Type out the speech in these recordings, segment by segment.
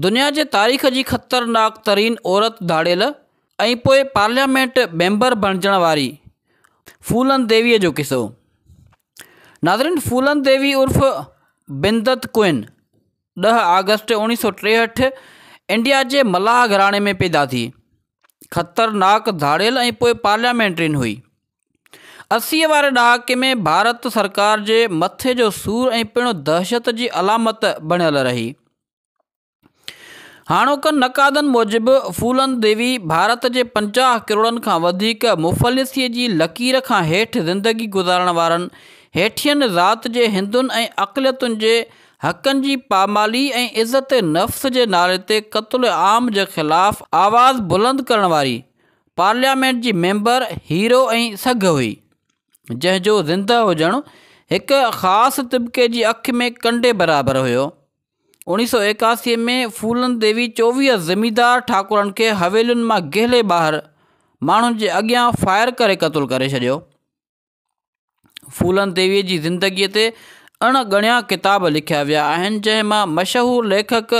دنيا جي تاريخ جي خطرناڪ ترين عورت ڌاڙيل ۽ پوء پارليامينٽ ميمبر بڻجڻ واري ڦولن ديويء جو قصو. ناظرين ڦولن ديوي عرف بندت ڪوئن ڏهه آگسٽ اوڻيهه سؤ ٽيهٺ انڊيا جي ملاح گهراڻي ۾ پيدا ٿي. خطرناڪ ڌاڙيل ۽ پوء پارليامينٽرين هئي. اسيء واري ڏهاڪي ۾ ڀارت سرڪار جي مٿي جو سور ۽ پڻ دهشت جي علامت بڻيل رهي. هاڻوڪن نقادن موجب ڦولن ديوي ڀارت جي پنجاهه ڪروڙن کان وڌيڪ مفلسيء جي لڪير کان هيٺ زندگي گذارڻ وارن هيٺين ذات جي هندن ۽ اقليتن جي حقن جي پامالي ۽ عزت نفس جي نالي تي قتل عام جي خلاف آواز بلند ڪرڻ واري پارليامينٽ جي ميمبر هيرو ۽ سگهه هئي، جنهن جو زندهه هجڻ هڪ خاص طبقي جي اک ۾ ڪنڊي برابر هيو. اوڻي سؤ ايڪاسي ۾ ڦولن ديوي چوويهه زميندار ٺاڪرن کي حويلين مان گهلي ٻاهر ماڻهن جي اڳيان فائر ڪري قتل ڪري ڇڏيو. ڦولن ديويء جي زندگيء تي اڻ ڳڻيا ڪتاب لکيا ويا آهن جنهن مان مشهور ليکڪ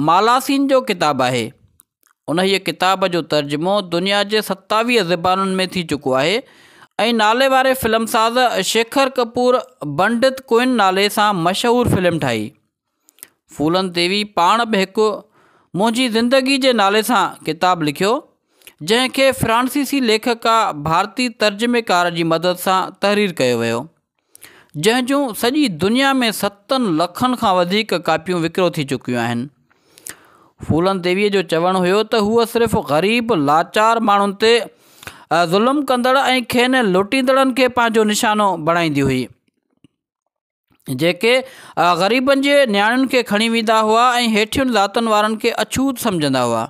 مالاسين جو ڪتاب آهي. انهيء ڪتاب جو ترجمو دنيا جي ستاويهه زبانن ۾ ٿي چڪو آهي ۽ ناليواري فلم ساز شيکر ڪپور بنڊت ڪوئن نالي سان مشهور فلم ٺاهي. ڦولن تيوي پاڻ به هڪ منهنجي زندگي جي نالي سان ڪتاب لکيو، جنهن کي فرانسيسي ليکڪا ڀارتي ترجميڪار جي مدد سان تحرير ڪيو ويو، جنهن جون سڄي دنيا ۾ ستن لکن کان وڌيڪ ڪاپيون وڪرو ٿي چڪيون آهن. ڦولن تيوي جو چوڻ هيو ته هوء صرف غريب لاچار ماڻهن تي ظلم ڪندڙ ۽ کين لٽيندڙن کي پنهنجو نشانو بڻائيندي هئي. جيڪي غريبن جي نياڻين کي کڻي ويندا هئا ۽ هيٺين ذاتن وارن کي اڇوت سمجهندا هئا.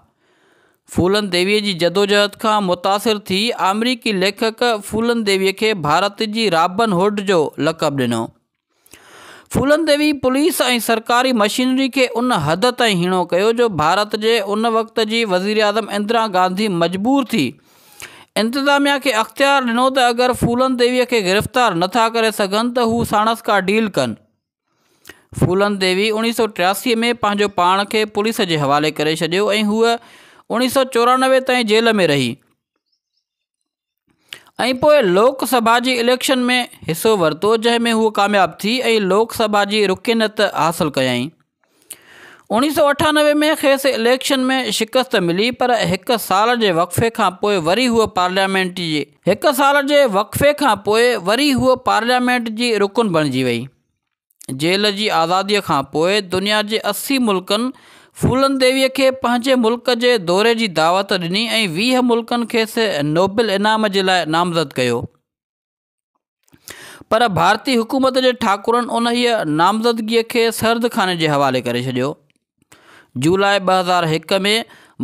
ڦولن ديويء جي جدوجهد کان متاثر ٿي آمريڪي ليکڪ ڦولن ديويء کي ڀارت جي رابن هوڊ جو لقب ڏنو. ڦولن ديوي پوليس ۽ سرڪاري مشينري کي ان حد تائين هيڻو ڪيو جو ڀارت جي ان وقت جي وزيراعظم اندرا گانڌي مجبور ٿي انتظاميا کي اختيار ڏنو ته اگر ڦولن ديويء کي گرفتار نه ٿا ڪري سگهن ته هو ساڻس ڪا ڊيل ڪن. ڦولن ديوي اوڻيهه سؤ ٽياسي ۾ پنهنجو پاڻ کي پوليس جي حوالي ڪري ڇڏيو ۽ هوء اوڻيهه سؤ چورانوي تائين جيل ۾ رهي ۽ پوء لوڪ سڀا جي اليڪشن ۾ حصو ورتو جنهن ۾ هوء ڪامياب ٿي ۽ لوڪ سڀا جي رڪنيت حاصل ڪيائين. اوڻيهه سؤ اٺانوي ۾ کيس اليڪشن ۾ شڪست ملي پر هڪ سال جي وقفي کانپوء وري هوء پارليامينٽ جي هڪ سال جي وقفي کانپوء وري هوء پارليامينٽ جي رڪن بڻجي وئي. جيل جي آزاديء کانپوء دنيا جي اسي ملڪن ڦولن ديويء کي پنهنجي ملڪ جي دوري جي دعوت ڏني ۽ ويهه ملڪن کيس نوبل انعام جي لاء نامزد ڪيو. پر ڀارتي حڪومت جي ٺاڪرن انهيء نامزدگيء کي سرد خاني جي حوالي ڪري ڇڏيو. جولاء ٻه هزار هڪ ۾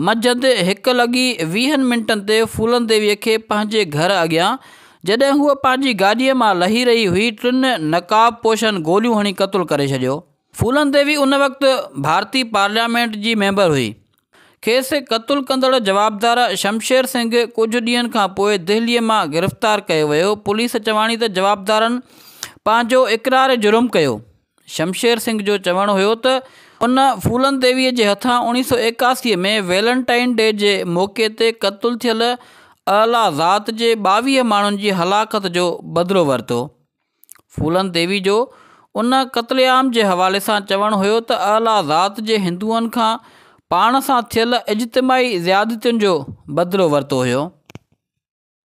منجهند هڪ لڳي ويهن منٽن تي ڦولن ديويء کي پنهنجي گهر اڳيان جڏهن هوء پنهنجي گاڏيء مان لهي رهي هئي ٽن نقاب پوشن گوليون هڻي قتل ڪري ڇڏيو. ڦولن ديوي ان وقت ڀارتي پارليامينٽ جي ميمبر هئي. کيس قتل ڪندڙ جوابدار شمشير سنگهه ڪجهه ڏينهن کان پوء دهلي مان گرفتار ڪيو ويو. پوليس چواڻي ته جوابدارن پنهنجو اقرار جرم ڪيو. شمشير سنگهه جو چوڻ هيو ته ان ڦولن ديوي جي هٿان اوڻيهه سؤ ايڪاسي ۾ ويلنٽائن ڊي جي موقعي تي قتل ٿيل اعليٰ ذات جي ٻاويهه ماڻهن جي هلاڪت جو بدلو ورتو. ڦولن ديوي جو ان قتل عام جي حوالي سان چوڻ هيو ته اعليٰ ذات جي هندوئن کان پاڻ سان ٿيل اجتماعي زيادتين جو بدلو ورتو هيو.